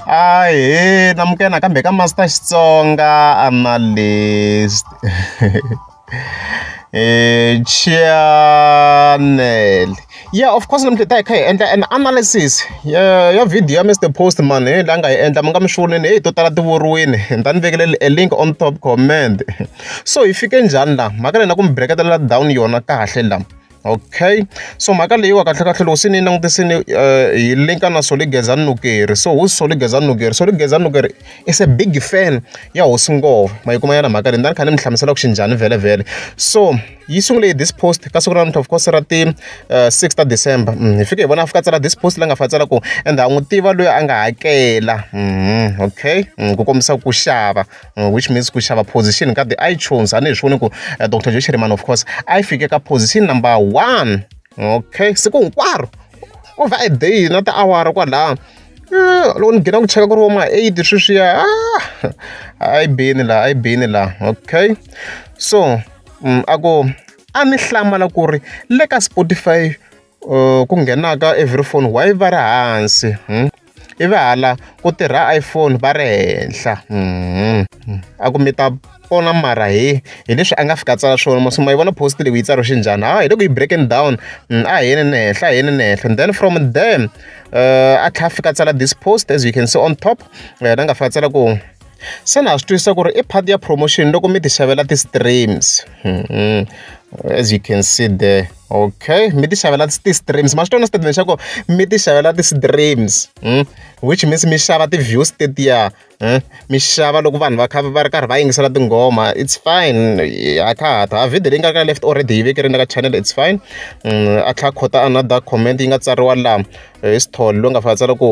Ahee Namukela nakambe ka Master Xitsonga Analyst Channel ya of course namuntlha hi ta hi kha hi endla an analysis ya ya video ya Mister Postman hi la nga yi endla mi nga mi xivonile heyi to tala ti vuriwile ni ta ni vekele a link on top comment so hi fike njhani la mhaka leyi na ku mi breketela down yona kahle la. okay so mhaka leyiwa kahlekahle loko se ni yi langutisini um eh, hi linka na soli geza nukeri so who's soli geza nukeri soli geza nukeri is a big fan ya hosi ngova ma yi kuma yana mhaka leyi ndani kha ni mi hlamusela ku xi njhani vhele vhele so yi sungule hi this post ka siku ra namuntlha of course ra ti uh, eh, 6 ta december mm, hi fike hi vona a fika tsala this post la nga fa tsala ku and a n'wi tiva loyi a nga hakela mm, okay mm, ku kombisa ku xava which means ku xava position ka ti-itunes a ni hi swi voni ku eh, dr joe shirimani of course a yi fike ka position number one okay siku hinkwaro ku va a day na tiawara kwalaho eh, loko ni nghena ku cheka ku ri voma eight sweswiya ah, a yi beni laha a yi beni laha okay so mm, a ku a ni hlamala ku ri le ka spotify ku nghenaka every phone why va ri hansi ivi hala ku tirha iPhone va ri henhla a ku mi ta pona mara he hi leswi a nga fika a tsala swona ma swi ma yi vona post leyi yi tsariwe xinjhani ha hi le ku yi breaking down a hi yeni ni henhla a hi yeni ni henhla then from there a tlhela a fika a tsala this post as you can see on top na nga fika a tsala ku se na swi twisisa ku ri i part ya promotion loko mi ti xavela ti-streams mm-hmm. as you can see there okay mi ti xavela ti-streams ma swi tona statement xa ku mi ti xavela ti-streams hmm? which means mi xava ti-views tetiya hmm? mi xava loko vanhu va kha va ri karhi va yingisela tinghoma it's fine a kha ha ta video leyi nga ka left already yi vekerini ka channel it's fine hmm, a tlha khota another comment yi nga tsariwa laha hi eh, sithole loyi nga fa tsala ku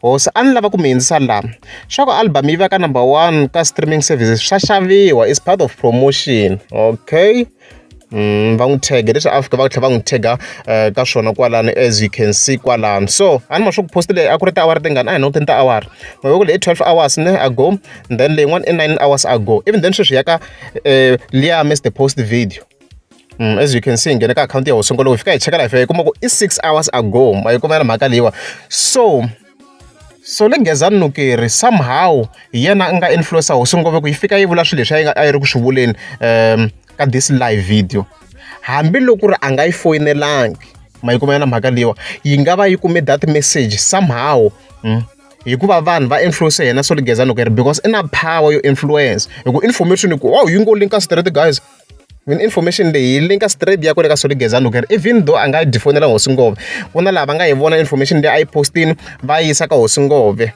Hosi a ni lava ku mi hindzisa laha swa ku album yi veka number one ka streaming services swa xaviwa is part of promotion okay Mm, va n'wi tege leswi afrika va tlhela va n'wi tega eh, ka swona kwalano as you can see kwalano so a ni ma swi ku post leyi a ku ri tiawara tingani a hi nokuteni tiawara mavoko leyi twelve hours ne ago then leyin'wana i nine hours ago even then sweswi ya ka um eh, liya miss the post video Mm, as you can see nghene ka akhawunti ya ho sungula hi fika hi cheka life yi kuma ku i six hours ago ma yi kuma na mhaka leyiwa so so le nghezani nukeri somehow hi yena a nga influencer hosi ngove ku yi fika yi vula swilo leswi a yi nga a yi ri ku swi vuleni um ka this live video hambiloko ri a nga yi foyinelangi ma yi kuma na mhaka leyiwa yi nga va yi kume that message somehow mm. hikuva vanhu va influence yena so ligeza nukeri because i na power yo influence hi ku information ku wow yi ngo linka straight guys Mina information leyi yi link-a straight yi ya kwale ka Solly Gezani loko ku ri even though a nga dyi fonela hosi Ngove, ku na laha va nga yi vona information leyi a yi post-ini va yi yisa ka hosi Ngove.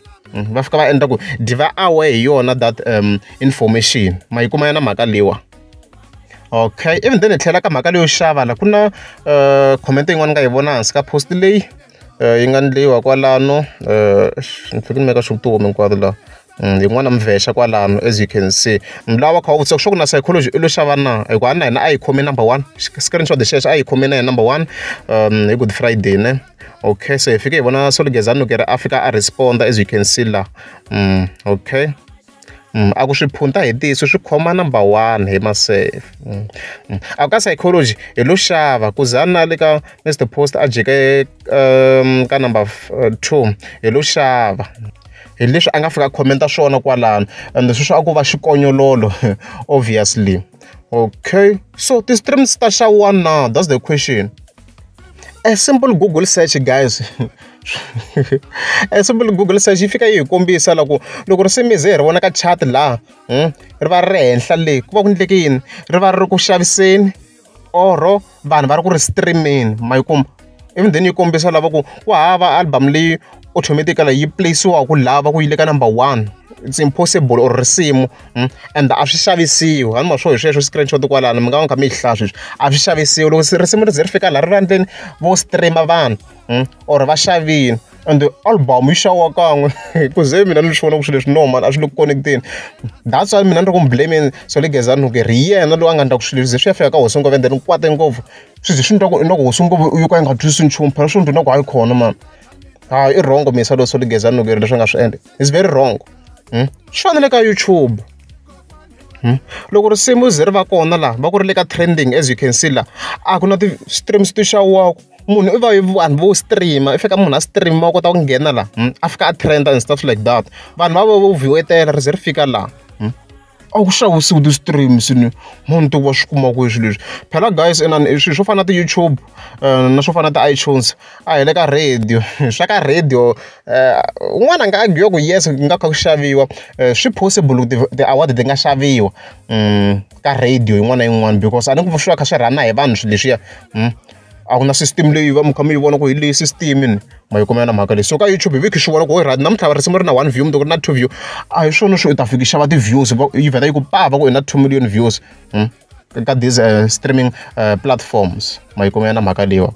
Va fika va endla ku dyi va aware hi yona that information. Ma yi kuma yona mhaka leyiwa. Okay ivi then hi tlhela ka mhaka leyo xava la, ku na comment yin'wana ni nga yi vona hansi ka post leyi yi nga endliwa kwalano ni fanekele ni maka sure ku ti home hinkwato la. yin'wana mvexa kwalano as you can see mulawu wa kha wu vutisa ku swa ku na psychology i lo xava na hikuva na hina a yi khome number one screenshot xexo a yi khome na hi number one um hi good friday ne okay so hi fike hi vona solugezani loko ri a fika a responda as you can see la um okay Mm, a ku swi phunta hi tiso swi khoma number one hi maseve mm, mm. a ku ka psychology hi lo xava ku za na le ka mr post a jeke um, ka number uh, two hi lo xava hi leswi a nga fika comment swona kwalano and leswi swa ku va xikonyololo obviously okay so ti-streams ta xa one now that's the question a simple google search guys a simple google search yi fika yi hi kombisa loko loko ri simize hi ri vona ka chat laha hmm, ri va ri ri henhla le ku va ku endleke yini ri va ri ri ku xaviseni or vanhu va ri ku ri stream-eni ma yi kuma ivi then yi kombisa lava ku ku hava album leyi automatically yi place-iwaka lava ku yi le ka number one it's impossible or risimu hmm? and a swi xavisiwi a ni ma swo hi sweswo screenshot kwalano mi nga va mi kha mi yi hlaya sweswi a swi xavisiwi loko risimu ri ze ri fika laha rirhandzeni vo stream vanhu. Hmm? or va xavini and album yi xawa kan'we ku ze mina ni swi vona ku swilo leswi no mani a swi le ku connecteni that's why mina ni ri ku mi blaming so le gezani ku ri yena loyi a nga endla ku swilo ze swi ya fika ka hosi ngopfu and then kwate ngopfu swi ze swi ni twa ku inoko hosi ngopfu yo ka yi nga twisi nchumu phela swi ni twa inoko hayi khona mani hayi i wrong misa loyi so le gezani loko yi ri leswi nga swi endla is very wrong hmm? swi fanele ka youtube Hmm? loko risimu ze ri va kona laha va ku ri le ka trending as you can see laha a ku na ti-streams ti xawaku munhu i va vanhu vo stream i fika munhu a stream wa kota ku nghena laha hmm? a fika a trend and stuff like that vanhu va vo viwetela ri ze ri fika laha hmm? a ku xavisiwi ti-streams ni munhu ti wa swi kuma kwihi swilo leswi phela guys inani swilo swo fana na ti-youtube eh, na swo fana na ti-itunes a hi le ka radio swa ka radio eh, un'wana a nga agiwa ku yes ku nga kha ku xaviwa eh, swi possible ku ti-award ti nga xaviwa hmm, ka radio yin'wana na yin'wana because a ni ku swi va kha swi rhana hi vanhu swilo leswiya hmm. a ku na system leyi va mi kha mi yi vona ku hi leyi system ni ma yi kumela na mhaka leyi so ka youtube hi viki swi vona ku ri namuntlha risimu ri na one view mundzuku ri na two view a hi swona swi u ta fiki xava ti-views yi vheta yi ku pava ku i na two million views hmm? ka these uh, streaming uh, platforms ma yi kumela na mhaka leyiwa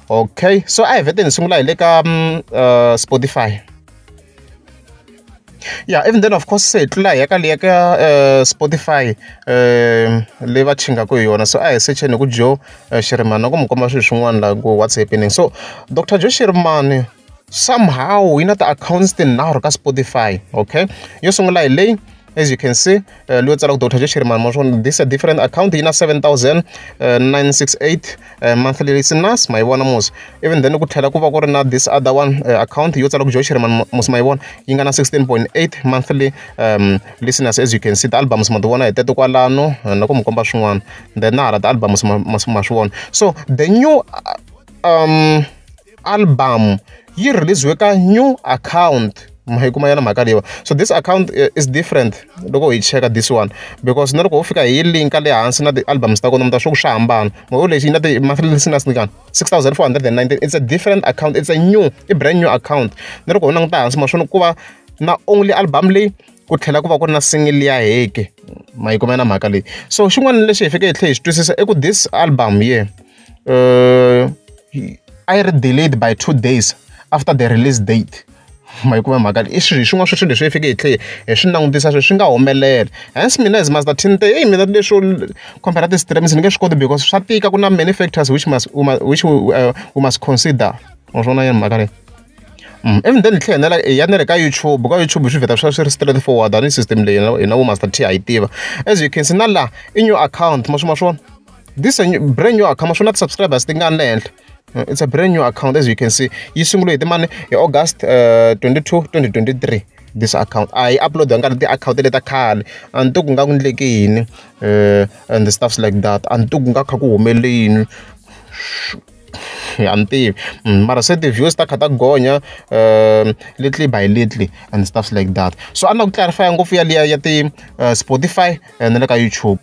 okay so a hi veteni hi sungula hi le ka mm, uh, spotify ya even then of course se hi tlula hi ya ka leya ka eh, spotify um leyi va chingaku hi yona so a hi secheni hi ku jo eh, xirimani na ku mi komba swilo swin'wana laha ku what's happening so dr jo xirimani somehow yi na ti-accounts tinharhu ka spotify okay yo sungula hi leyi as you can see uh, leyo tsala ku dr joshiri mamasvon this a different account yi na 7968 uh, uh, monthly listeners ma yi vona mos even then ku tlhela ku va ku ri na this other one uh, account yo tsala ku joshiri mos ma yi vona yi nga na 16.8 monthly um, listeners as you can see ti-albums ma ti vona hi tete kwalano uh, na ku mi komba swin'wana then na hala ti-albums ma swi vona so the new uh, um album yi release-we ka new account ma yi kuma yona mhaka leyiwa so this account eh, is different loko hi cheka this one because na loko ho fika hi linka le hansi na ti-albums ta kona mi ta swa ku swa hambana maho lexi yi na ti-monthly listeners ni kani six thousand four hundred and nineteen it's a different account it's a new i brand new account na loko ho languta hansi ma swona ku va na only album leyi ku tlhela ku va ku ri na single ya heke ma yi kuma na mhaka leyi so xin'wana lexi hi fike hi tlhe hi xi twisisa i ku this album ye yeah. a yi ri delayed by two days after the release date ma yi kuma mhaka leyi i swilo hi swin'wana swa swilo leswi hi fanekele hi tlhela hi swi langutisa sweswi swi nga humelela hence mina as much as ten te heyi mina leswo compare na ti-streams ni nge swi koti because swa tika ku na many factors which must u ma which u must consider ma swona yini mhaka leyi even then hi tlhela hi nela hi ya na le ka YouTube ka YouTube swi vheta swi swi ri straight forward a ni system leyi hina hina vo Master T ha yi tiva as you can see na laha i new account ma swi ma swona. this is a new, brand new account swi na ti-subscribers ti nga le henhla uh, it's a brand new account as you can see yi sungule hi timani hi august uh, 22 2023 this account a yi upload nga ti-account le ta khale a ni to ku nga ku ndleke yini uh, and the stuffs like that a ni to ku nga kha ku humelele yini a ni tivi mm, mara se ti-views ta kha ta gonya um little by little and stuffs like that so a ni la ku clarifya ngopfu yaliya ya ti-spotify uh, na le ka youtube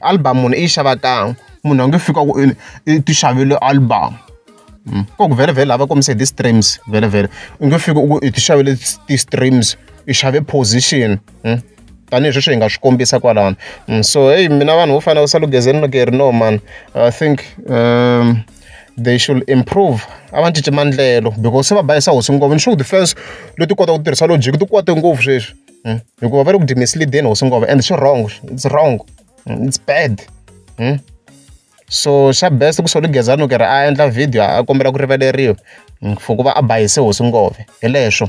album munhu i yi xava kan'we munhu a nge fiki a ku i i ti xavele album ko ku vhele vhele lava kombise ti-streams vhele vhele u nge fiki u ku i ti xavele ti-streams i xave position tanihi sweswi hi nga swi kombisa kwalano so heyi mina vanhu vo fana na salugezeni loko hi ri no mani i think um they should improve a va cinci maendlelo because se va bayisa hosi ngopfu ni sure ku ti-fans leti kotaka ku tirhisa logic ti kwate ngopfu sweswi. hmm? hikuva va le ku dyi mislideni hosi ngova and swi wrong it's wrong hmm? it's bad hmm? so xa best ku solo gezani u ke ri a endla video a kombela ku rivaleriwa for ku va a bayise hosi ngove hi leswo